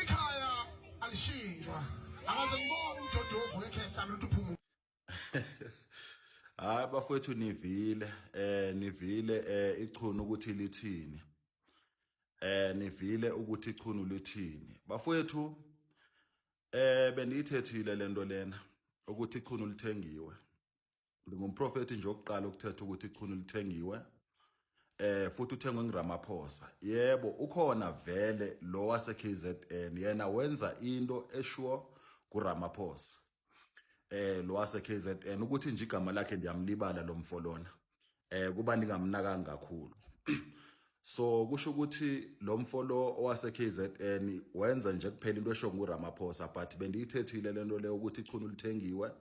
Ikhaya alishintshwa. Akaze ngibone umdodovu wekhehla luthu phuma. Hayi bafowethu nivile eh nivile eh ichunu ukuthi lithini. Eh nivile ukuthi ichunu lithini. Bafowethu eh bendiyithethile lento lena ukuthi ichunu lithengiwe. Ngingumprofethi nje okuqala ukuthetha ukuthi ichunu lithengiwe eh futhi uthengwe ngiRamaphosa yebo ukhona vele lo wase KZN yena wenza into eshuo kuRamaphosa eh lo wase KZN ukuthi nje igama lakhe ndiyamlibala lomfo lona eh kuba ningamnakanga kakhulu so kusho ukuthi lo mfo lo owase KZN wenza nje kuphela into esho nguRamaphosa but bendiyithethile lento le ukuthi ichunu lithengiwe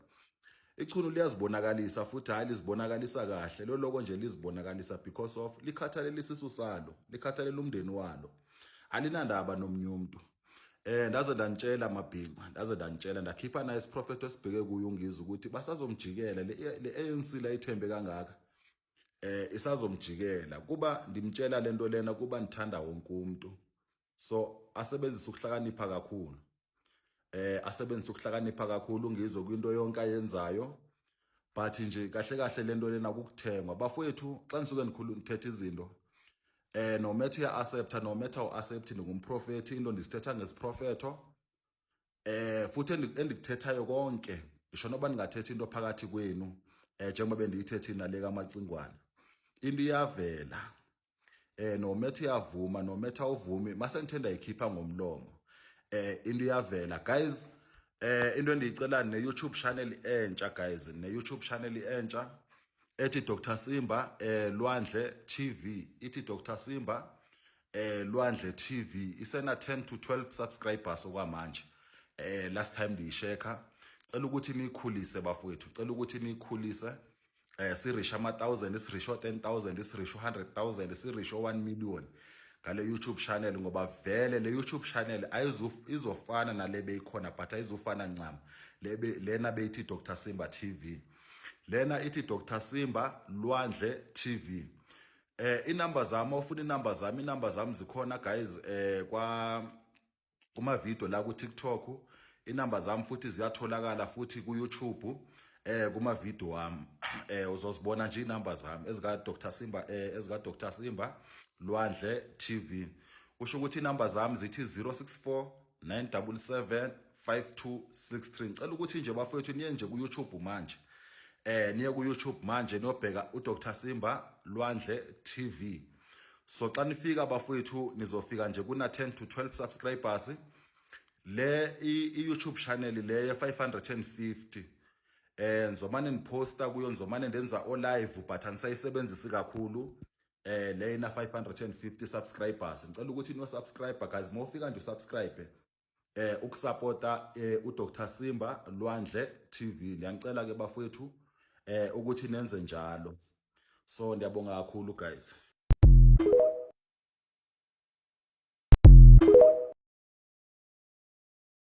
ichunu liyazibonakalisa futhi hayi lizibonakalisa kahle lo loko nje lizibonakalisa because of likhathalelisa isu salo likhathalela umndeni walo alinandaba nomnye umuntu Eh ndaze ndantshela mabhinca ndaze ndantshela ndakhipha naye isiprofeto esibheke kuye ungizwe ukuthi basazomjikela le ANC la ithembe kangaka eh isazomjikela kuba ndimtshela lento lena kuba ndithanda wonke umuntu so asebenzise ukuhlakanipha kakhulu eh asebenzise ukuhlakanipha kakhulu ngizwe kwinto yonke ayenzayo but nje kahle kahle lento lena kukuthengwa bafowethu xa nisuke nikhulu nithetha izinto eh no matter ya accept no matter u accept ndingumprofethi into ndisithetha ngesiprofetho eh futhi endikuthethayo konke isho noba ningathetha into phakathi kwenu eh njengoba bendiyithethe inale kamacingwana into iyavela eh no matter uyavuma no matter uvumi mase ngithenda ikhipha ngomlomo eh into iyavela guys eh into endiyicela ne YouTube channel entsha guys ne YouTube channel entsha ethi Dr Simba eh Lwandle TV ithi Dr Simba eh Lwandle TV isena 10 to 12 subscribers okwamanje eh last time ndiyisheka cela ukuthi nikhulise bafowethu cela ukuthi nikhulise eh sirisha ama 1000 isirisho 10000 isirisho 100000 isirisho 1 million ngale YouTube channel ngoba vele le YouTube channel ayizuf izofana nale beyikhona but ayizufana ncam lebe lena beyithi Dr Simba TV lena ithi Dr Simba Lwandle TV eh inamba zami ofuna inamba zami inamba zami zikhona guys eh kwa kumavidiyo la ku-tiktok inamba zami futhi ziyatholakala futhi ku-youtube um eh, kumavidiyo wami um uzozibona nje iy'namba zami ezika-dr simba um eh, ezika-dr simba lwandle tv kusho ukuthi iy'namba zami zithi 064 977 5263 ngicela ukuthi nje bafowethu niye nje ku-youtube manje eh niye ku-youtube manje niyobheka udr simba lwandle tv so xa nifika bafowethu nizofika nje kuna 10 to 12 subscribers le i-youtube channel le ye-550 eh ngizomane niposta kuyo ngizomane ndenza o-live but anisayisebenzisi kakhulu eh lena 550 subscribers ngicela ukuthi no subscriber guys mofika nje usubscribe eh ukusupporta eh, uDr Simba Lwandle TV ngiyacela ke bafowethu eh ukuthi nenze njalo so ndiyabonga kakhulu guys